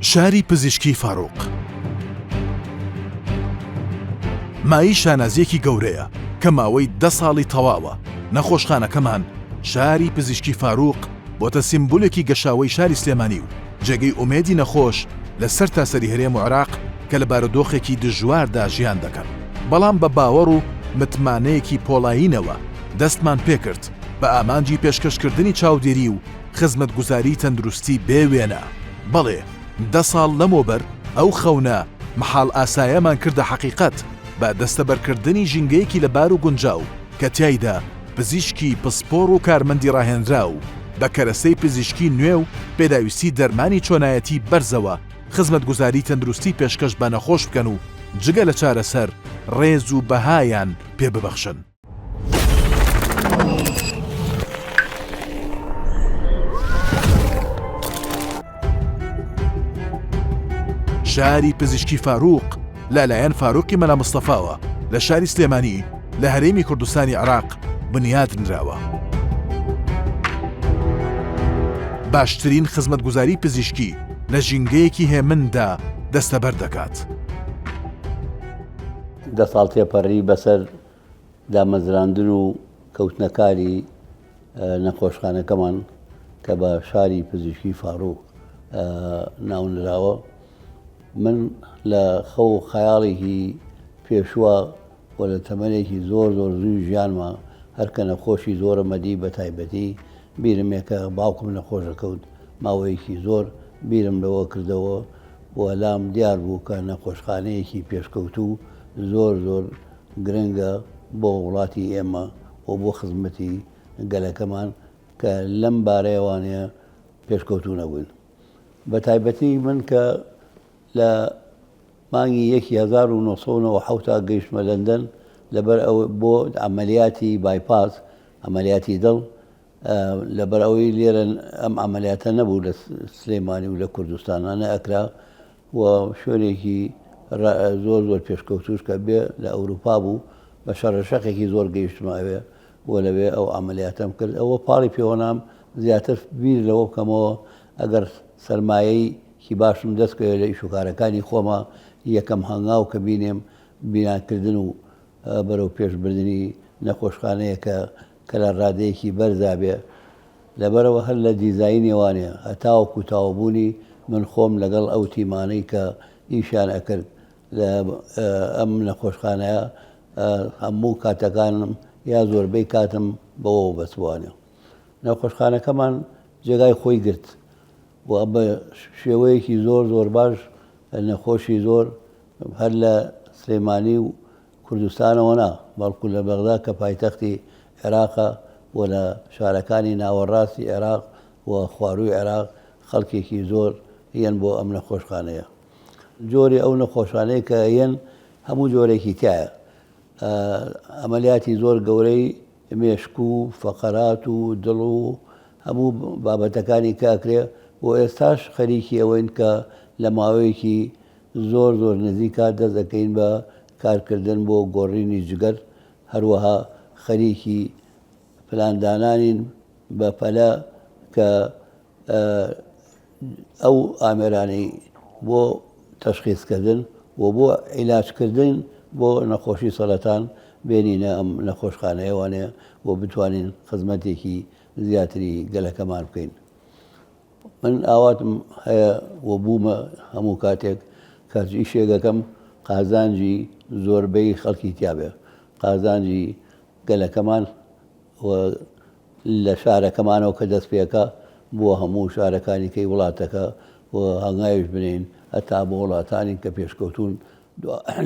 شاری پزیشکی فاروق مایەی شانازییەکی گەورەیە کە ماوەی دە ساڵی تەواوە نەخۆشخانەکەمان شاری پزیشکی فاروق بۆتە سیمبولێکی گەشاوەی شاری سلێمانی و جێگەی ئومێدی نەخۆش لە سەر تاسەری هەرێم و عراق کە لە بارودۆخێکی دژواردا ژیان دەکەن بەڵام بە باوەڕ و متمانەیەکی پۆڵایینەوە دەستمان پێکرد بە ئامانجی پێشکەشکردنی چاودێری و خزمەتگوزاری تەندروستی بێ وێنە، بەڵێ دە ساڵ لەمەوبەر ئەو خەونە مەحاڵ ئاسایەمان کردە حەقیقەت بە دەستەبەرکردنی ژینگەیەکی لەبار و گونجاو کە تیایدا پزیشکی پسپۆڕ و کارمەندی ڕاهێنراو بە کەرەسەی پزیشکی نوێ و پێداویستی دەرمانی چۆنایەتی بەرزەوە خزمەتگوزاری تەندروستی پێشکەش بە نەخۆش بکەن و جگە لە چارەسەر ڕێز و بەهایان پێ ببەخشن. شاری پزیشکی فاروق لەلایەن فاروقی مەلا مستەفاوە لە شاری سلێمانی لە هەرێمی کوردستانی عراق بنیات نراوە. باشترین خزمەتگوزاری پزیشکی لە ژینگەیەکی هێمندا دەستەبەر دەکات. دە ساڵ تێپەڕی بەسەر دامەزراندن و کەوتنەکاری نەخۆشخانەکەمان کە بە شاری پزیشکی فاروق ناونراوە من لە خەو و خەیاڵێکی پێشوە و لە تەمەێکی زۆر زۆر زووی ژیانمە هەرکە نەخۆشی زۆرە مەدی بە تایبەتی بیرمێکە باوکم نەخۆشەکەوت ماوەیەکی زۆر بیرم لەوە کردەوە و لام دیار بوو کە نەخۆشخانەیەکی پێشکەوتوو زۆر زۆر گرنگە بۆ وڵاتی ئێمە و بۆ خزمەتی گەلەکەمان کە لەم بارەیەوانەیە پێشکەوتوو نەبووین بە تایبەتی من کە لە مانگی یەکی 1970 تا گەیشتمە لەندەن لەبەر ئەو بۆ ئەمەلیاتی بایپاس ئەمەلیاتی دڵ لەبەرئەوەی لێرە ئەم عملیاتە نەبوو لە سلێمانی و لە کوردستانە نەئەکرا و شوێنێکی زۆر زۆر پێشکەوتوش کە بێ لە ئەوروپا بوو بە شەڕەشەقێکی زۆر گەیشتمە ئەوێ و لەوێ ئەو عملیاتەم کرد ئەوە پاڵی پێوەنام زیاتر بیر لەوە بکەمەوە ئەگەر سەرمایەی کی باشم دەستکەوێ لە ئیشوکارەکانی خۆمە یەکەم هەنگاو کە بینێم بیناکردن و بەرەو پێشبردنی نەخۆشخانەیە کە کە لە ڕادەیەکی بەرزا بێ، لەبەرئەوە هەر لە دیزاینێوانێ هەتاوەکو تاوبوونی من خۆم لەگەڵ ئەو تیمانەی کە ئیشیان ئەکرد لە ئەم نەخۆشخانەیە هەموو کاتەکانم یا زۆربەی کاتم بەوەوە بەسبووانێ. نەخۆشخانەکەمان جێگای خۆی گرت و بە شێوەیەکی زۆر زۆر باش نەخۆشی زۆر هەر لە سلێمانی و کوردستانەوە نا، بەڵکو لە بەغدا کە پایتەختی عێراقە و لە شارەکانی ناوەڕاستی عێراق و خوارووی عێراق خەڵکێکی زۆر یەن بۆ ئەم نەخۆشخانەیە. جۆری ئەو نەخۆشانەی کە یەن هەموو جۆرێکی تیایە. ئەمەلیاتی زۆر گەورەی مێشک و فەقەرات و دڵ و هەموو بابەتەکانی کە ئەکرێ و ئێستاش خەریکی ئەوەین کە لە ماوەیەکی زۆر زۆر نزیکە دەست دەکەین بە کارکردن بۆ گۆڕینی جگەر، هەروەها خەریکی پلاندانانین بە پەلە کە ئەو ئامێرانەی بۆ تەشخیسکردن و بۆ عیلاجکردن بۆ نەخۆشی سەرەتان بێنینە ئەم نەخۆشخانەیەوانەیە و بتوانین خزمەتێکی زیاتری گەلەکەمان بکەین. من ئاواتم هەیە و بوومە هەموو کاتێک کە هەرچی ئیشێک دەکەم قازانجی زۆربەی خەڵکی تیابێ قازانجی گەلەکەمان و لە شارەکەمانەوە کە دەست پێکە بۆ هەموو شارەکانی کەی وڵاتەکە و هەنگاویش بنین هەتا بۆ وڵاتانی کە پێشکەوتوون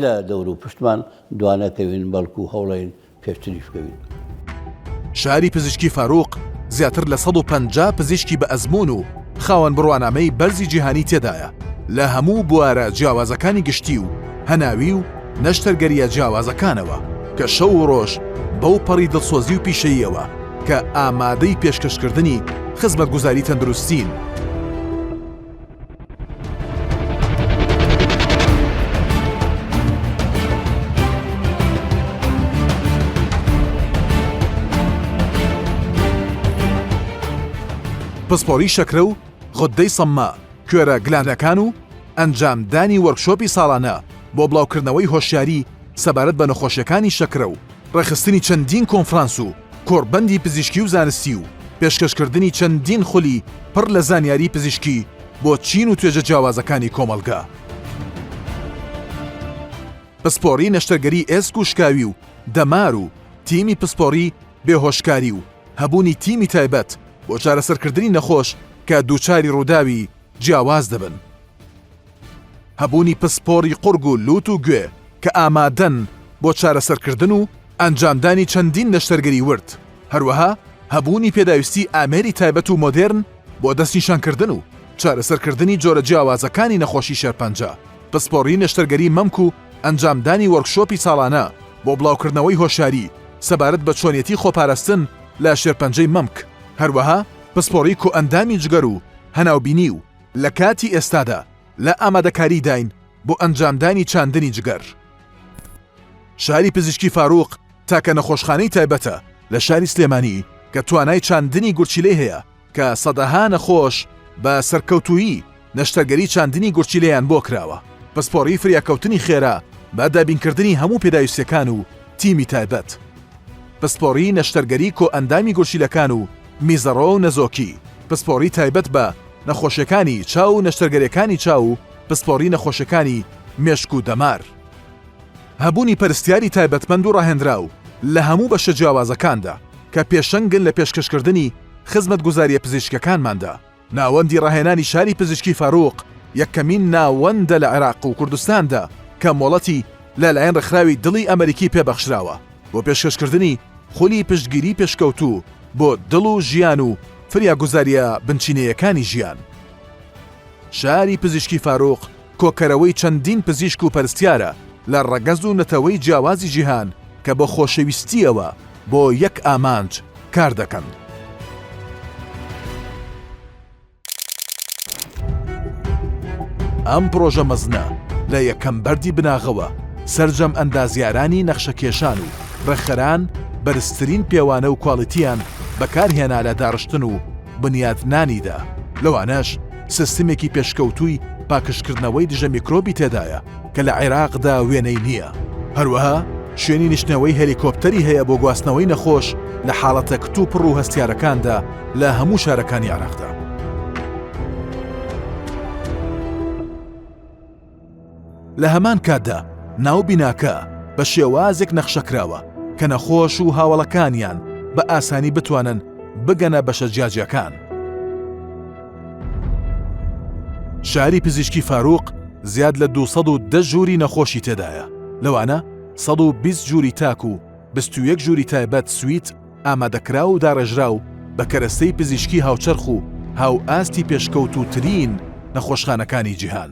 لە دەورو پشتمان دوانەکەوین بەڵکو هەوڵەین پێشتریش بکەوین. شاری پزیشکی فاروق زیاتر لە سەد و پەنجا پزیشکی بە ئەزموون و خاوەن بڕوانامەی بەرزی جیهانی تێدایە لە هەموو بوارە جیاوازەکانی گشتی و هەناوی و نەشتەرگەرییە جیاوازەکانەوە کە شەو و ڕۆژ بەو پەڕی دڵسۆزی و پیشەییەوە کە ئامادەی پێشکەشکردنی خزمەتگوزاری تەندروستین پسپۆری شەکرە و غدەی سەممە کوێرە گلانەکان و ئەنجام دانی وەرکشۆپی ساڵانە بۆ بڵاوکردنەوەی هۆشیاری سەبارەت بە نەخۆشیەکانی شەکرە و ڕێکخستنی چەندین کۆنفرانس و کۆڕبەندی پزیشکی و زانستی و پێشکەشکردنی چەندین خولی پڕ لە زانیاری پزیشکی بۆ چین و توێژە جیاوازەکانی کۆمەڵگە. پسپۆڕی نەشتەرگەری ئێسک و شکاوی و دەمار و تیمی پسپۆڕی بێهۆشکاری و هەبوونی تیمی تایبەت بۆ چارەسەرکردنی نەخۆش کە دووچاری ڕووداوی جیاواز دەبن. هەبوونی پسپۆڕی قوڕگ و لووت و گوێ کە ئامادەن بۆ چارەسەرکردن و ئەنجامدانی چەندین نەشتەرگەری ورد، هەروەها هەبوونی پێداویستی ئامێری تایبەت و مۆدێرن بۆ دەستنیشانکردن و چارەسەرکردنی جۆرە جیاوازەکانی نەخۆشی شێرپەنجە، پسپۆڕی نەشتەرگەری مەمک و ئەنجامدانی وۆرکشۆپی ساڵانە بۆ بڵاوکردنەوەی هۆشیاری سەبارەت بە چۆنیەتی خۆپاراستن لە شێرپەنجەی مەمک، هەروەها پسپۆڕی کۆئەندامی جگەر و هەناوبینی و. لە کاتی ئێستادا لە ئامادەکاریداین بۆ ئەنجامدانی چاندنی جگەر. شاری پزیشکی فاروق تاکە نەخۆشخانەی تایبەتە لە شاری سلێمانی کە توانای چاندنی گورچیلەی هەیە کە سەدەها نەخۆش بە سەرکەوتوویی نەشتەرگەری چاندنی گورچیلەیان بۆ کراوە، پسپۆڕی فریاکەوتنی خێرا بە دابینکردنی هەموو پێداویستیەکان و تیمی تایبەت. پسپۆڕی نەشتەرگەری کۆئەندامی گورچیلەکان و میزەڕۆ و نەزۆکی، پسپۆڕی تایبەت بە نەخۆشیەکانی چاو و نەشتەرگەریەکانی چاو و پسپۆڕی نەخۆشیەکانی مێشک و دەمار. هەبوونی پەرستیاری تایبەتمەند و ڕاهێنراو لە هەموو بەشە جیاوازەکاندا کە پێشەنگن لە پێشکەشکردنی خزمەتگوزاریە پزیشکیەکانماندا. ناوەندی ڕاهێنانی شاری پزیشکی فاروق یەکەمین ناوەندە لە عێراق و کوردستاندا کە مۆڵەتی لەلایەن ڕێکخراوی دڵی ئەمەریکی پێبەخشراوە. بۆ پێشکەشکردنی خولی پشتگیری پێشکەوتوو بۆ دڵ و ژیان و فریاگوزارییە بنچینەیەکانی ژیان. شاری پزیشکی فاروق کۆکەرەوەی چەندین پزیشک و پەرستیارە لە ڕەگەز و نەتەوەی جیاوازی جیهان کە بە خۆشەویستییەوە بۆ یەک ئامانج کاردەکەن. ئەم پرۆژە مەزنە لە یەکەم بەردی بناغەوە سەرجەم ئەندازیارانی نەخشەکێشان و ڕێکخەران بەرزترین پێوانە و کواڵیتیان بەکارهێنا لە داڕشتن و بنیاتنانیدا لەوانەش سیستمێکی پێشکەوتووی پاکژکردنەوەی دژە میکرۆبی تێدایە کە لە عێراقدا وێنەی نییە، هەروەها شوێنی نیشتنەوەی هەلیکۆپتەری هەیە بۆ گواستنەوەی نەخۆش لە حاڵەتە کتوپڕ و هەستیارەکاندا لە هەموو شارەکانی عێراقدا. لە هەمان کاتدا ناو بیناکە بە شێوازێک نەخشەکراوە کە نەخۆش و هاوەڵەکانیان بە ئاسانی بتوانن بگەنە بەشە جیاجیاکان. شاری پزیشکی فاروق زیاد لە دوو سەد و دە ژووری نەخۆشی تێدایە، لەوانە سەد و بیست ژووری تاک و بیست و یەک ژووری تایبەت سویت، ئامادەکراو و داڕێژراو بە کەرەستەی پزیشکی هاوچەرخ و هاوئاستی پێشکەوتووترین نەخۆشخانەکانی جیهان.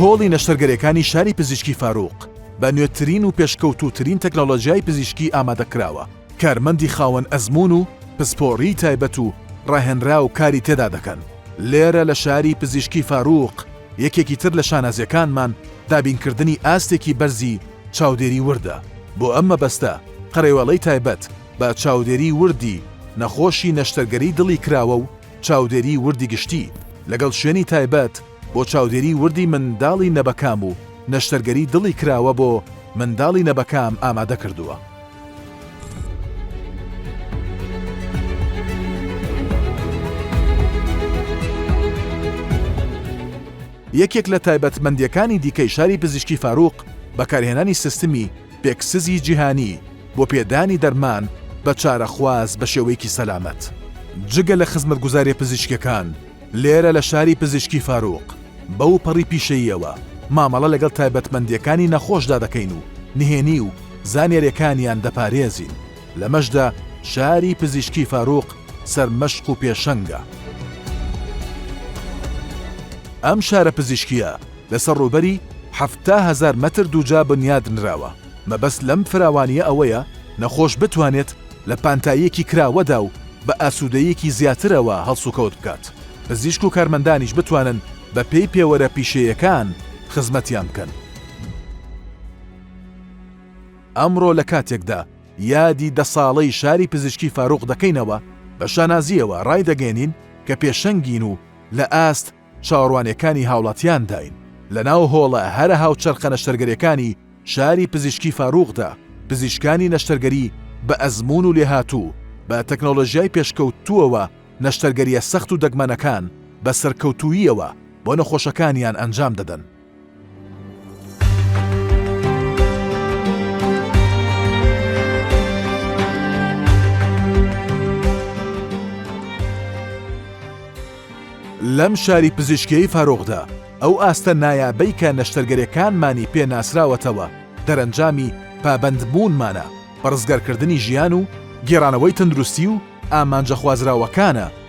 هۆڵی نەشتەرگەریەکانی شاری پزیشکی فاروق بە نوێترین و پێشکەوتوترین تەکنەلۆژیای پزیشکی ئامادەکراوە کارمەندی خاوەن ئەزمون و پسپۆڕی تایبەت و ڕاهێنرا و کاری تێدا دەکەن لێرە لە شاری پزیشکی فاروق یەکێکی تر لە شانازیەکانمان دابینکردنی ئاستێکی بەرزی چاودێری وردە بۆ ئەم مەبەستە قەرەوەڵەی تایبەت بە چاودێری وردی نەخۆشی نەشتەرگەری دڵی کراوە و چاودێری وردی گشتی، لەگەڵ شوێنی تایبەت بۆ چاودێری وردی منداڵی نەبەکام و نەشتەرگەری دڵی کراوە بۆ منداڵی نەبەکام ئامادە کردووە. یەکێک لە تایبەتمەندییەکانی دیکەی شاری پزیشکی فاروق، بەکارهێنانی سیستمی پێکسزی جیهانی، بۆ پێدانی دەرمان بە چارەخواز بە شێوەیەکی سەلامەت. جگە لە خزمەتگوزارییە پزیشکییەکان، لێرە لە شاری پزیشکی فاروق بەو پەڕی پیشەییەوە مامەڵە لەگەڵ تایبەتمەندییەکانی نەخۆشدا دەکەین و نهێنی و زانیارییەکانیان دەپارێزین، لەمەشدا شاری پزیشکی فاروق سەرمەشق و پێشەنگە. ئەم شارە پزیشکییە لەسەر ڕووبەری حەفتا هەزار مەتر دووجا بنیادنراوە. مەبەست لەم فراوانییە ئەوەیە نەخۆش بتوانێت لە پانتاییەکی کراوەدا و بە ئاسوودەییەکی زیاترەوە هەڵسوکەوت بکات، پزیشک و کارمەندانیش بتوانن بەپێی پێوەرە پیشەیەکان خزمەتیان بکەن. ئەمڕۆ لە کاتێکدا یادی دە ساڵەی شاری پزیشکی فاروق دەکەینەوە، بە شانازییەوە ڕایدەگەیەنین کە پێشەنگین و لە ئاست، چاوەڕوانیەکانی هاوڵاتیان داین. لەناو هۆڵە هەرە هاوچەرخە نەشتەرگەریەکانی شاری پزیشکی فاروقدا، پزیشکانی نەشتەرگەری بە ئەزموون و لێهاتوو، بە تەکنۆلۆژیای پێشکەوتووەوە نەشتەرگەریە سەخت و دەگمەنەکان بە سەرکەوتووییەوە بۆ نەخۆشەکانیان ئەنجام دەدەن. لەم شاری پزیشکیی فارووخدا ئەو ئاستە نایابەی کە نەشتەرگەرەکانمانی پێ ناسراوەتەوە دەرەنجامی پابەندبوونمانە بە ڕزگارکردنی ژیان و گێڕانەوەی تەندروستی و ئامانجە خوازراوەکانە،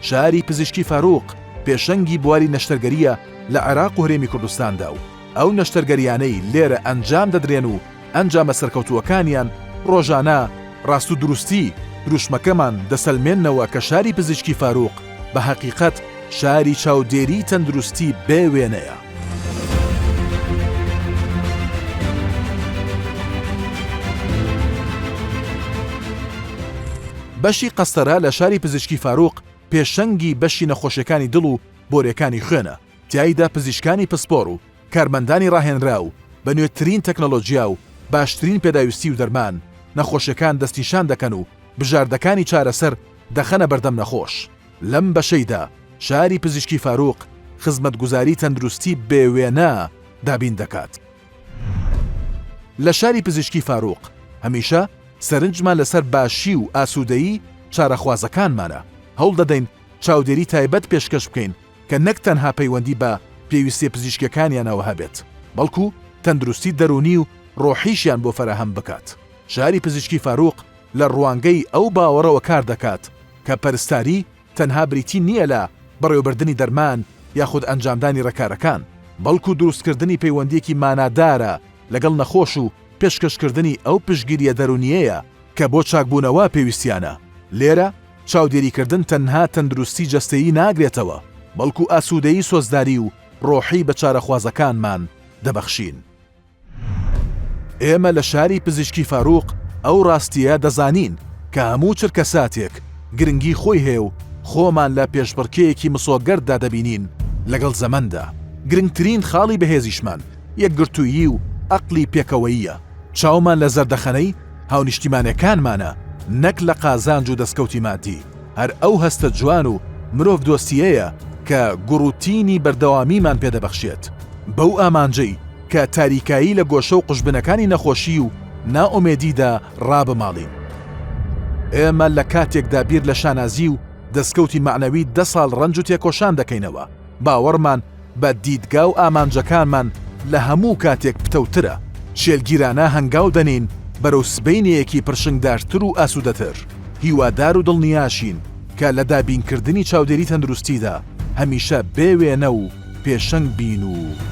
شاری پزیشکی فاروق پێشەنگی بواری نەشتەرگەرییە لە عێراق و هەرێمی کوردستاندا و ئەو نەشتەرگەرییانەی لێرە ئەنجام دەدرێن و ئەنجامە سەرکەوتووەکانیان ڕۆژانە ڕاست و دروستی دروشمەکەمان دەسەلمێننەوە کە شاری پزیشکی فاروق بە هەقیقەت شاری چاودێریی تەندروستی بێ وێنەیە. بەشی قەستەرە لە شاری پزیشکی فاروق پێشەنگی بەشی نەخۆشیەکانی دڵ و بۆرێکانی خوێنە، تیایدا پزیشکانی پسپۆر و کارمەندانی راهێنراو بە نوێترین تەکنەلۆجیا و باشترین پێداویستی و دەرمان نەخۆشیەکان دەستنیشان دەکەن و بژاردەکانی چارەسەر دەخەنە بەردەم نەخۆش. لەم بەشەیدا شاری پزیشکی فاروق خزمەتگوزاری تەندروستی بێ وێنە دابین دەکات. لە شاری پزیشکی فاروق هەمیشە سەرنجمان لەسەر باشی و ئاسوودەیی چارەخوازەکانمانە، هەوڵ دەدەین چاودێری تایبەت پێشکەش بکەین کە نەک تەنها پەیوەندی بە پێویستیە پزیشکیەکانیانەوە هەبێت، بەڵکو تەندروستی دەروونی و ڕۆحیشیان بۆ فەراهەم بکات. شاری پزیشکی فاروق لە ڕوانگەی ئەو باوەڕەوە کار دەکات، کە پەرستاری تەنها بریتی نییە لە بەڕێوەبردنی دەرمان یاخود ئەنجامدانی ڕێکارەکان، بەڵکو دروستکردنی پەیوەندییەکی مانادارە لەگەڵ نەخۆش و پێشکەشکردنی ئەو پشتگیرییە دەروونییەیە کە بۆ چاکبوونەوە پێویستیانە. لێرە چاودێریکردن تەنها تەندروستی جەستەیی ناگرێتەوە، بەڵکو ئاسوودەیی سۆزداری و ڕۆحی بە چارەخوازەکانمان دەبەخشین. ئێمە لە شاری پزیشکی فاروق ئەو ڕاستییە دەزانین کە هەموو چرکەساتێک گرنگی خۆی هەیە و خۆمان لە پێشبڕکێیەکی مسۆگەردا دەبینین لەگەڵ زەمەندا. گرنگترین خاڵی بەهێزیشمان یەکگرتوویی و ئەقڵی پێکەوەییە. چاومان لە زەردەخەنەی هاونیشتیمانەکانمانە نەک لە قازانج و دەستکەوتی مادی. هەر ئەو هەستە جوان و مرۆڤ دۆستییەیە کە گوڕ و تینی بەردەوامیمان پێ دەبەخشێت بەو ئامانجەی کە تاریکایی لە گۆشە و قوژبنەکانی نەخۆشی و نائومێدیدا ڕابماڵین. ئێمە لە کاتێکدا بیر لە شانازی و دەستکەوتی مەعنەوی دە ساڵ ڕەنج و تێکۆشان دەکەینەوە، باوەڕمان بە دیدگا و ئامانجەکانمان لە هەموو کاتێک پتەوترە، شێلگیرانە هەنگاو دەنێین بەرەو سبەینێیەکی پرشنگدارتر و ئاسوودەتر، هیوادار و دڵنیاشین کە لە دابینکردنی چاودێری تەندروستیدا هەمیشە بێ وێنە و پێشەنگ بین و.